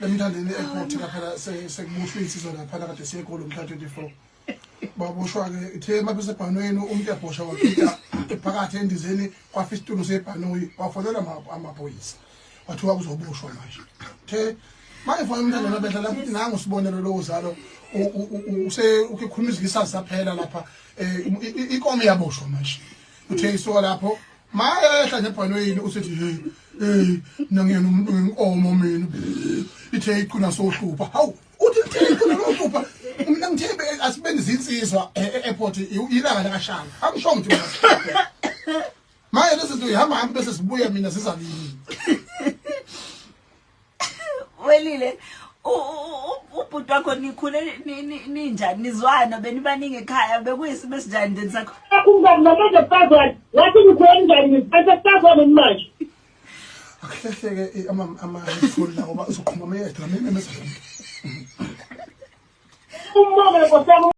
emthandeni airport lapha sekubushwe insizwa lapha kade siye golo mhla 24 baboshwa ke ithe mabese bhanweni umuntu ebhosha wakhipha ephakathi endizeni kwafa isitulo sebhanoyi wafonela amaphoyisa wathiwa kuzoboshwa manje the manje fana umntana nabedla lapho ukuthi nangu sibonelo lowo zalo use ukikhuluma izikisa saphela lapha eh, ikomo yaboshwa manje uthe isoka lapho mayehla nebhanoyini usethi hey hey nangiyena umuntu wenkomo mina ithe iqina sohlupha hawu uthi ithe iqina sohlupha mina ngithembe asibeni zinsizwa e, e, airport ilanga lakashanga angisho ngithi maye lezi zinto ihamba hamba bese sibuya mina sizalini welile ubhuti wakho nikhule ninjani nizwana benibaningi ekhaya bekuyisimo esinjani nje nisakho umngani mabeze kufazwane wathi nikhule njani niziphethe kufazwane manje akuhlehleke eh, amafoni lawo uzoqhuma ameyedwa amene mesifike umbonge nkosiyam